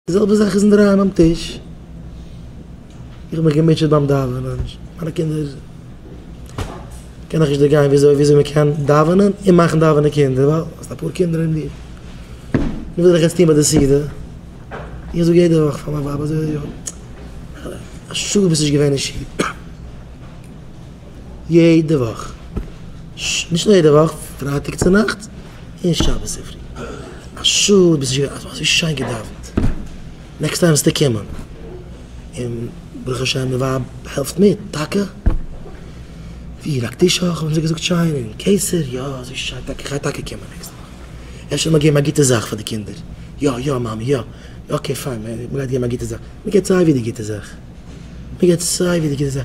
די זעלבע זאך איז אינדערהיים ביים טיש, איך האב מיך געמוטשעט ביים דאווענען, מיינע קינדער קען איך נישט דערגיין וויאזוי וויאזוי מען קען דאווענען און מאכן דאווענען קינדער, ווייל האסט אפאר קינדער אין דיר, נו וואס זאל איך יעצט טון ביי די סעודה, איך זאג יעדע וואך פאר מיין ווייב אזוי אזוי אוי א שעה ביסט נישט געווען אין שול, יעדע וואך, נישט נאר יעדע וואך, פרייטאג צו נאכטס. אין שבת צופרי. א שעה ביז נישט געווען אזוי שיין געדאווענט. נעקסט טיים וועסטו קומען. און ברוך השם די ווייב העלפט מיט. טאקע? ווי לייגט די שוך? האבן זיי געזאגט שיין און קיסר? יא אזוי שיין טאקע. כ'גיי טאקע קומען נעקסט וואך. אפשר מיר געבן א גוטע זאך פאר די קינדער. יא יא מאמי יא. אקעי פיין מ'גייט געבן א גוטע זאך. מ'געבט סיי ווי די גוטע זאך. מ'געבט סיי ווי די גוטע זאך.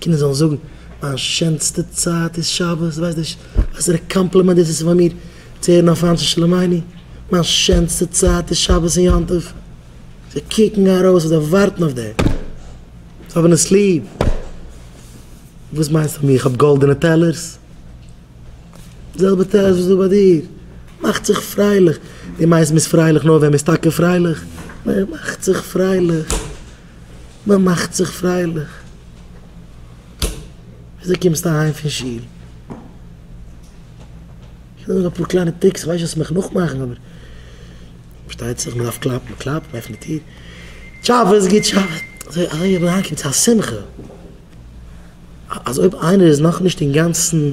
קינדער זאלן זאגן, מיין שענסטע צייט איז שבת, דו ווייסט נישט וואסערע קאמפלימענט דאס איז פאר מיר צו הערן אויף אנשי שלומינו, מיין שענסטע צייט איז שבת און יום טוב. זיי קוקן ארויס און זיי ווארטן אויף דעם. זיי האבן עס ליב. וואס מיינסטו פון מיר? איך האב גאלדענע טעלערס? די זעלבע טעלערס וואס איז דא ביי דיר. מאכט זיך פרייליך. דו מיינסט מ'איז פרייליך נאר ווען מ'איז טאקע פרייליך? נער, מאכט זיך פרייליך. מען מאכט זיך פרייליך, וויאזוי קומסטו אהיים פון שול? קען זיין אפאר קליינע טריקס, כ'ווייס נישט וועסט מיך נאכמאכן אבער פארשטייט זיך מען דארף קלאפן, מען קלאפט, מען עפנט די טיר, טשאבעס, גוט שאבעס, אזוי אזוי ווי מען אריינקומט צו א שמחה, אז אויב איינער איז נאכנישט אינגאנצן